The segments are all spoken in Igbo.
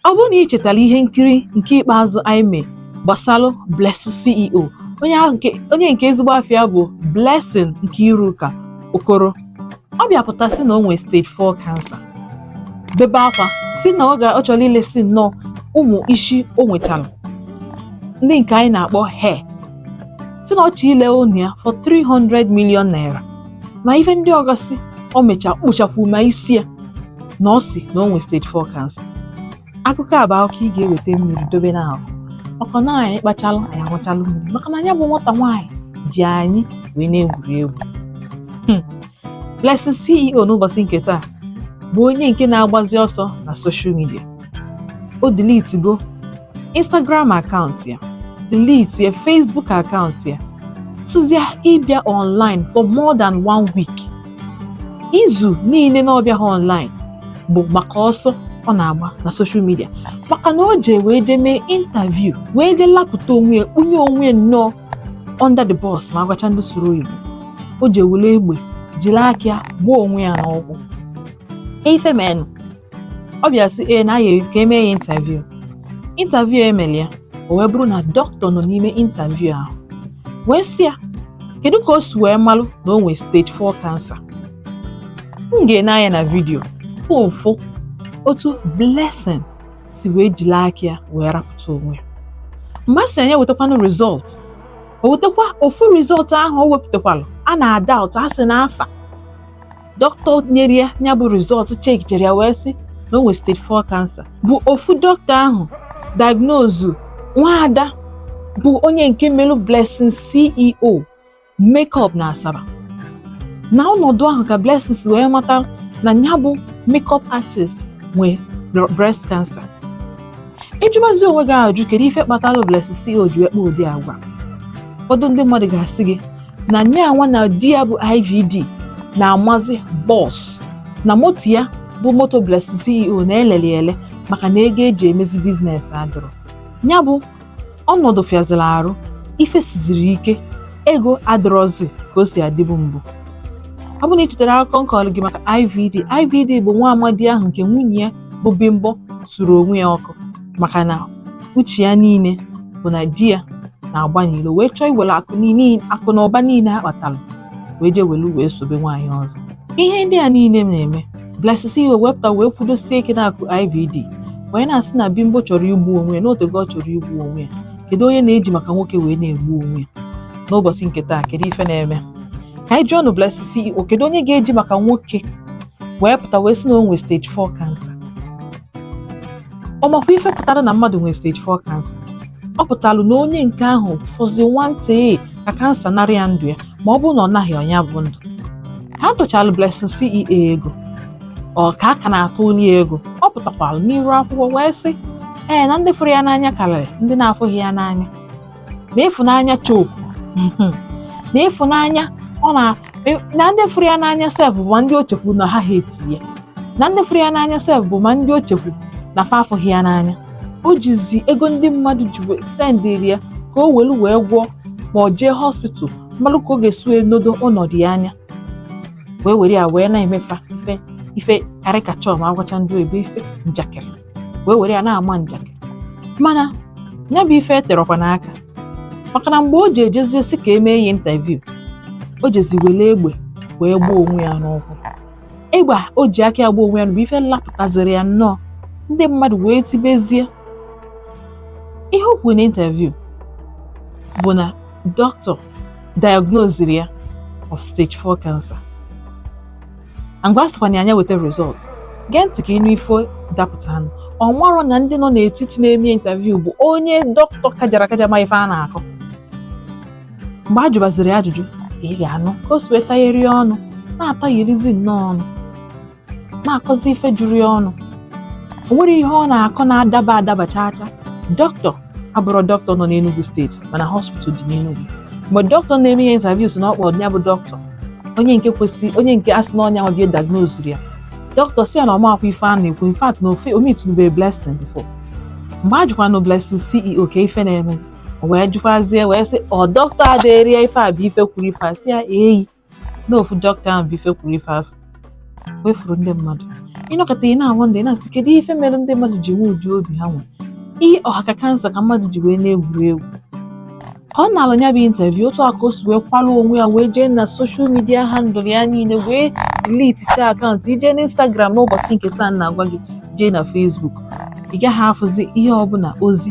Ọ bụrụ na ị chetara ihe nkiri nke ikpeazụ anyị mee gbasara Blessing CEO, onye nke ezigbo afa ya bụ Blessing Nkiruka Okoro, ọ bịapụta sị na o nwere stage 4 cancer, bebe akwa sị na ọ ga ọ chọrọ ilesi nnọọ ụmụ isi o nwetara ndị nke anyị na-akpọ hair, sị na ọ chọrọ ile ụnọ ya for 300 million naira. ma ife ndị ọgasị o mecha kpụchakwu ma isi ya na ọ sị na o nwere stage 4 cancer akụkọ a bụ akụkọ ị ga-eweta mmiri dobe n'ahụ maka na anyị kpachalụ anyị aṅụchalụ mmiri maka na nya bụ nwata nwaanyị ji anyị wee na-egwuri egwu hmm. Blessing CEO n'ụbọchị nke taa bụ onye nke na-agbazi ọsọ na social media o deletigo Instagram akaụntụ ya deletie Facebook akaụntụ ya jụzia ịbịa online for more than one week izu niile na ọ bịaha online bụ maka ọsọ ọ na-agba na social media maka na o jee wee jee mee interview wee jee lapụta onwe ya kpunye onwe ya nnọọ under the bus ma a gwacha ndị soro oyibo o jee were egbe jiri aka ya gbuo onwe ya n'ụkwụ ife menụ ọ bịa sị ee na ya ka e mee ya interview interview e mere ya o wee bụrụ na doctor nọ n'ime interview ahụ wee sị ya kedu ka o si wee malụ na o nwee stage 4 cancer m ga-ene anya na vidiyo ahụ ị fụ otu Blessing si wee jiri aka ya wee rapụta onwe ya mgbe a sị ya nya wetakwanụ result o wetakwa ofu result ahụ o wepụtakwalụ a na-doubt a sị na afa doctor nyere ya nya bụ result chekichere ya wee sị na o nwere stage 4 cancer bụ ofu doctor ahụ diagnose nwaada bụ onye nke melụ Blessing CEO makeup na Asaba na ọnọdụ ahụ ka Blessing si wee mata na nya bụ makeup artist nwee breast cancer ị jụbazi onwe gị ajụ kedu ife kpatara Blessing CEO ji wee kpa ụdị agwa ụfọdụ ndị mmadụ ga-asị gị na nya nwa na di ya bụ IVD na-amazi bọs na moto ya bụ moto Blessing CEO na-elele ele maka na ego e ji emezi business adịrọ ya bụ ọnọdụ fịaziri arụ ife siziri ike ego adịrọzi ka o si adịbu mbụ ọ bụ na ị chetara akụkọ m kọrọ gị maka IVD IVD bụ nwa amadi ahụ nke nwunye ya bụ Bimbo suru onwe ya ọkụ maka na uche ya niile bụ na di ya na-agba n'ilo wee chọọ iwere akụ niile akụ na ụba niile ha kpatara wee jee welu wee sobe nwaanyị ọzọ ihe ndị a niile na-eme Blessing CEO wee pụta wee kwudosie ike n'azụ IVD wee na-asị na Bimbo chọrọ igbu onwe ya na o tego ọ chọrọ igbu onwe ya kedu onye na-eji maka nwoke wee na-egbu onwe ya n'ụbọchị nke taa kedu ife na-eme ka anyị jụọnụ Blessing CEO kedu onye ga-eji maka nwoke wee pụta wee sị na o nwere stage 4 cancer ọ makwa ife pụtara na mmadụ nwere stage 4 cancer ọ pụtalụ na onye nke ahụ fọzi nwantịị ka kansa narị ya ndụ ya ma ọ bụrụ na ọ naghị ya nya bụ ndụ ka a tụchalụ Blessing CEO ego ọ ka a ka na-atụlụ ya ego ọ pụtakwalụ n'iru akwụkwọ wee sị ee na ndị fụrụ ya n'anya karịrị ndị na-afụghị ya n'anya na ịfụnanya choke na ịfụnanya ọ na e, na ndị fụrụ ya n'anya sef bụ ma ndị o chekwu na ha hate ya na ndị fụrụ ya n'anya sef bụ ma ndị o chekwu na fa afụghị ya n'anya o jizi ego ndị mmadụ ji wee sendịrị ya ka o welu wee gwọọ ma ọ jee hospital malụ ka ọ ga-esi wee nedo ọnọdụ ya anya wee were ya wee na-emefa ife ife caricature ma agwacha ndị oyibo ife njakịrị wee were ya na-ama njakịrị mana ya bụ ife eterọkwanụ aka maka na mgbe o ji ejezie sị ka e mee ya interview o jezi were egbe wee gbaa onwe ya n'ụkwụ egbe o ji aka ya gbaa onwe ya bụ ife lapụtaziri ya nnọọ ndị mmadụ wee tibezie ihe o kwuru na interview bụ na dọkịta diagnosiri ya of stage 4 cancer Ngwa a sịkwanụ nya weta result gee ntị ka ị nụ ife dapụtaanụ ọ marọ na ndị nọ n'etiti na-eme interview bụ onye dọkịta kajara akaja ma ife a na-akọ mgbe a jụbaziri ajụjụ ị ga-anụ ka o si wee tagheri ọnụ na-atagherizi nnọọ ọnụ na-akọzi ife juru ya ọnụ o nwerọ ihe ọ na-akọ na-adaba adaba chaa chaa dọkịta abụrọ dọkịta nọ n'Enugu steeti mana hospital dị n'Enugu mgbe dọkịta na-eme ya interview sị na ọ kpọọ ya bụ dọkịta onye nke kwesị onye nke a sị na ọ nya bịa diagnose ya dọkịta sị ya na ọ marọkwa ife a na-ekwu in fact na o meetunubero Blessing before mgbe a jụkwanụ Blessing CEO kee ife na-eme o wee jụkwazie wee sị ọ dọkịta a deere ya ife a bụ ife kwuru ife a sị ya eyi na ofu dọkịta ahụ bụ ife kwuru ife afụ wefuru ndị mmadụ ị nọkata ị na-awọnda na-asị kedu ife mere ndị mmadụ ji nwee ụdị obi ha nwere ihe ha ka kansa ka mmadụ ji wee na-egwuri egwu ka ọ nalụ ya bụ interview otu a ka o si wee kwalụ onwe ya wee jee na social media handle ya niile wee delete taa akaụntụ i jee na Instagram n'ụbọchị nke taa na-agwa gị jee na Facebook ị gaghị afụzi ihe ọbụla ozi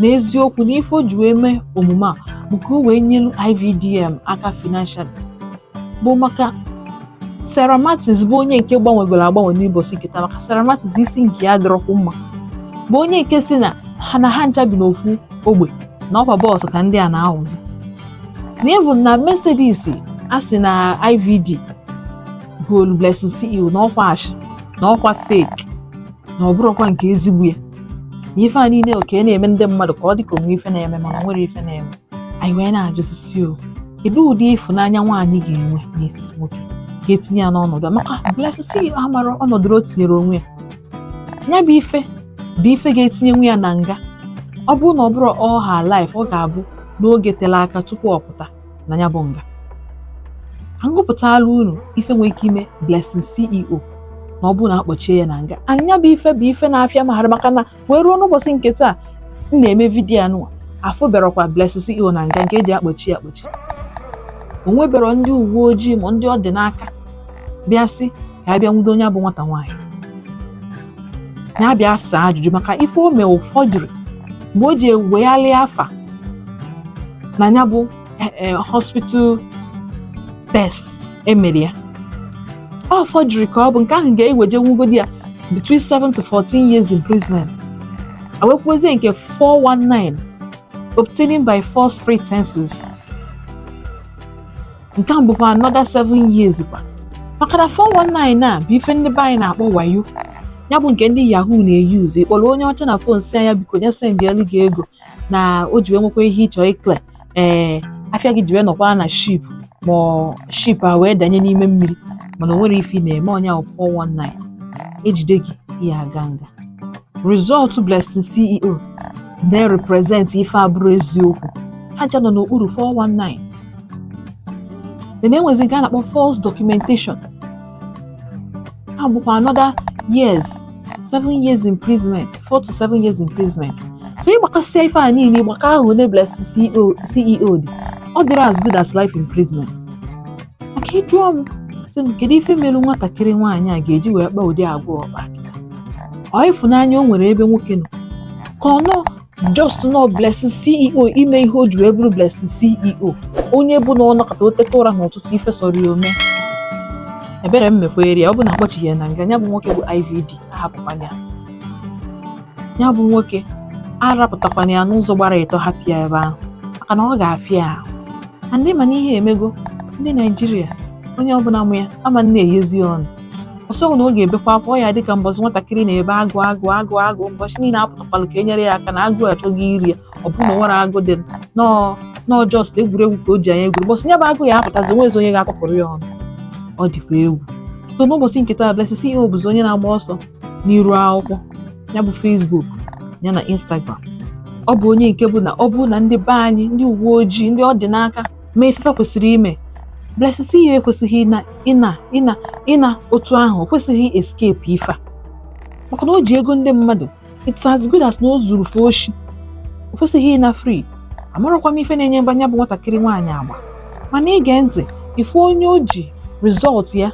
na eziokwu na ife o ji wee mee omume a bụ ka o wee nyelu IVD em aka financial bụ maka Sarah Martins bụ onye nke gbanwegoro agbanwe n'ụbọchị nke taa maka Sarah Martins isi nke ya dịrọkwu mma bụ onye nke sị na ha na ha ncha bi n'ofu ogbe na ọkwa bus ka ndị a na-awụzi na even na Mercedes a sị na IVD goolu Blessing CEO na ọkwa ashị na ọkwa fake na ọ bụrụkwa nke ezigbo ya ife a niile ọ ka na-eme ndị mmadụ ka ọ dị ka o nwee ife na-eme mana o nwere ife na-eme anyị wee na-ajụzi sị o kedu ụdị ịfụnanya nwaanyị ga-enwe n'etiti nwoke ga-etinye ya n'ọnọdụ maka Blessing CEO amara ọnọdụ o tinyere onwe ya ya bụ ife bụ ife ga-etinyenwu ya na nga ọ bụrụ na ọ bụrọ for life ọ ga-abụ na oge tere aka tupu ọ pụta na ya bụ nga agụpụtala unu ife nwere ike ime Blessing CEO na ọ bụrụ na akpọchie ya na nga nya bụ ife bụ ife na-afịa m aghara maka na wee ruo n'ụbọchị nke taa m na-eme vidiyo a nụwa afụberokwa Blessing CEO na nga nke eji akpọchi ya akpọchi o nwebero ndị uwe ojii ma ndị ọ dị n'aka bịa sị ka a bịa nwudo nya bụ nwata nwaanyị nya abịa saa ajụjụ maka ife o mee ọ forgery mgbe o ji ewegharị afa na ya bụ eh, eh, hospital test emere ya ọ forgery ka ọ bụ nke ahụ ga-ewejenwugodi ya between 7 to 14 years imprisonment enwekwazie nke 419 obtaining by false pretenses nke ahụ bụkwa another 7 years kwa maka na 419 a bụ ife ndị be anyị na-akpọ wayo ya bụ nke ndị yahoo na-euse ị kpọrọ onye ọcha na fon sị nya biko nya sendịelụ gị ego na o ji wee nwekwa ihe ị chọ ịclear afịa gị ji wee nọkwa na ship ma ọ- ship a wee danye n'ime mmiri mana o nwero ife ị na-eme ọ nya bụ 419 ejide gị ị ya-aga nga Result Blessing CEO na-represent ife abụrọ eziokwu ha ncha nọ n'okpuru 419 then enwezi nke a na-akpọ false documentation ahụ bụkwa another years seven years imprisonment four to seven years imprisonment so ị gbakọsịa ife a niile ịgbakọ ahụ na Blessing CEO dị ọ dịrị as good as life imprisonment maka ị jụọ m sị m kedu ife mere nwatakịrị nwaanyị a ga-eji wee kpaa ụdị agwa ọ kpa ọ ịfụnanya o nwere ebe nwoke nọ ka ọ nọ just nọ blessing ceo ime ihe o ji wee bụrụ blessing ceo onye bụ na ọ nọkata o teta ụra n'ụtụtụ ife sọrọ ya o mee ebere m mekwaara ya ọ bụ na akpọchighị ya na nga ya bụ nwoke bụ ivd ahapụkwana ya ya bụ nwoke arapụtakwana ya n'ụzọ gbara ịtọ hapụ ya ebe ahụ maka na ọ ga-afịa ya ahụ ma ndị ma na ihe emego ndị naijiria onye ọbụla mụ ya ama na-eyezi ọnụ ọ sịghị na ọ ga-ebekwa akwa ọ ya-adị ka mbọchị nwatakịrị na-ebe agụ agụ agụ agụ mbọchị niile apụtakwala ka e nyere ya aka na agụ achọgo iri ya ọ bụrọ na o nwere agụ dị nọọ nọọ just egwuregwu ka o ji nya egwuri mbọchị ya bụ agụ ya-apụtazi o nwezi onye ga-ekupụrụ ya ọnụ ọ dịkwa egwu so n'ụbọchị nke taa Blessing CEO bụzi onye na-agba ọsọ n'iru akwụkwọ ya bụ Facebook ya na Instagram ọ bụ onye nke bụ na ọ bụrụ na ndị be anyị ndị uwe ojii ndị ọ dị n'aka ma ife kwesịrị ime Blessing CEO ekwesịghị ịna otu ahụ o kwesịghị escape ife a maka na o ji ego ndị mmadụ it's as good as na o zuru fa oshi o kwesịghị ịna free amarakwa m ife na-enye mba nya bụ nwatakịrị nwaanyị agba mana i gee ntị ife onye o ji result ya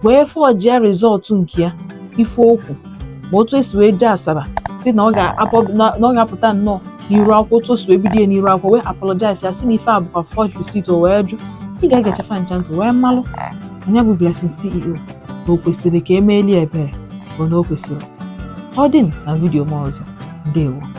wee fọjia result nke ya ife o kwu ma otu o si wee jee Asaba sị na ọ ga-apụta nnọọ n'iru akwụkwọ otu o si wee bido ya n'iru akwụkwọ wee apologize ya sị na ife a bụkwa forged receipt o wee jụ ị ga-egechafa ncha ntị wee malụ nya bụ Blessing CEO na o kwesịrị ka e meeli ebere bụ na o kwesịrị ọ dị na vidiyo m ọzọ ndewo